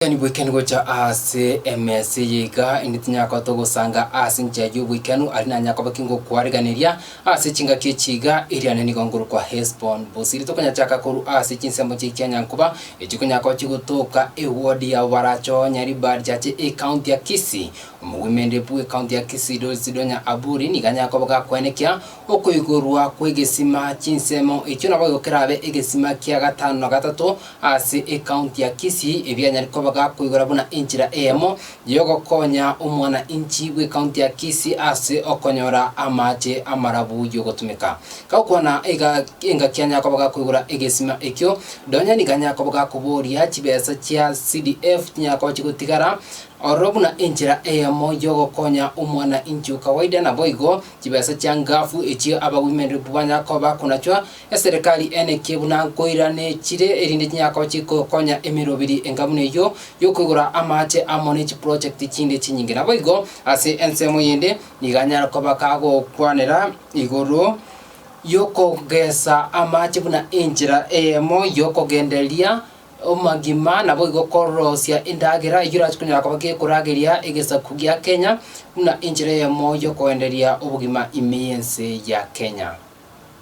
Tari bwekani gocha aase emesa eye iga, inde tinyakoota ogosanga aase enchera y'oboikanu, aria nanya koba ki ngokwareganeria aase chingaki echi iga, eriane nigo ngorokwa Hesbon. Bosiri tokonyachaka korwa aase chinsemo chie chianyankuba, echikonyakochi gotoka ewodi yabo barachoo Nyaribari chache ecounty ya Kisii. Omogwemenderebu bw'ecounty ya Kisii Doris Donya Aburi nigo anyakoba gakwenekia okoigorwa kw'egesima chinsemo echio nabo igo kerabe egesima kia gatano na gatato Ase ekaunti ya Kisii, ebianyare koba gakoigora buna enchera eyemo y'ogokonya omwana-inchi bw'ekaunti ya Kisii ase okonyora amaache amarabu y'ogotumeka. Gakwana iga, engaki anyakoba gakoigora egesima ekio, nonya nigo anyakoba gakoboria chibesa chia CDF chinyakoba chigotigara ororo buna enchera eyemo y'ogokonya omwana-inchi o kawaida. Naboigo, chibesa chia Ngafu echio Abawomen Rep banyakoba bakonachwa Eserekari ene ki buna nkoiranechire erinde chinyakao chigokonya emeroberi enga buna eyio y'okoigora amaache amo ne chiprojekti chinde chinyinge. Naboigo ase ensemo eyende nigo anyare koba kagokwanera igoro y'okogesa amaache buna enchera eyemo y'okogendereria omagima naboigo korosia endagera eyio erachie konyara koba gekorageria egesaku gia Kenya buna enchera eyemo y'okoenderia obogima ime y'ense ya Kenya.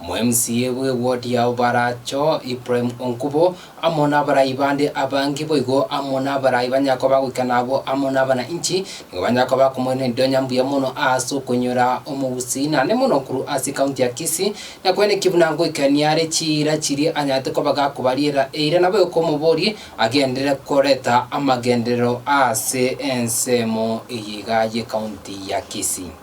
Omwemsie bw'ewodi yao baracho Ibrahim Onkubo amo nabaraai bande abange boigo amo nabaraai ba nyako bagoikana abwo amo nabana inchi nigo banyare koba bakomoirana endionya mbuya mono aase okoinyora omogusii naende mono korwa ase ekaunti ya Kisii na kwene ki buna ngoikania are chiira chiria anyarete koba gakobariera eira nabo ekomobori agenderere koreta amagenderero aase ensemo eye iga y'ekaunti ya Kisii.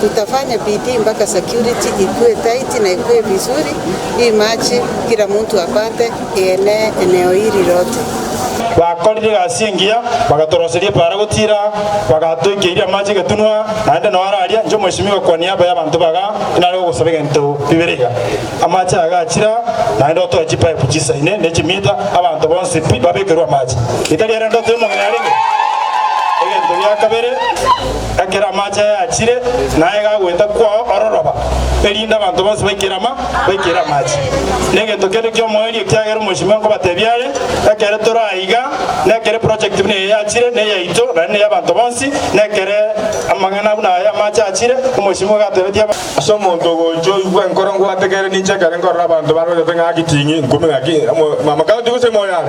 Tutafanye bidii mpaka security ikue tight na ikue vizuri hii March kila mtu apate ienee eneo hili lote. Bakorire egasi engiya, bagatoroseria epaara gotiira, bagatoikia iria amache egetunwa, naende noo ara aria, inche omwesimigwa kwa niaba y'abanto baga, inare gogosaba egento bibere iga, amache aya gachira, naende otoe chipaip chisaine ne chimita, abanto bonsi pi babekerwe amache. Getari ere ndoto y'omong'ina arenge egento gia kabere. ekero amache aye achire, na aye gagoeta kwao ororoba, erinde abanto bonsi baikere ama, baikere amache. Negento kende ki'omoerio, ekiagera omochie mwango obatebia are, ekere tore aiga, nekero eproject buna eye yachire, ne yaito, na ne y'abanto bonsi, nekere amang'ana buna aya amache achire, omochie mwango atebetie abanto. Ase omonto ogocha oigwe enkoro ngwate kere ninche ekero nkorora abanto barorete ng'aki ting'ii, nkumi ng'aki, amo, mama county gose imoyo yare?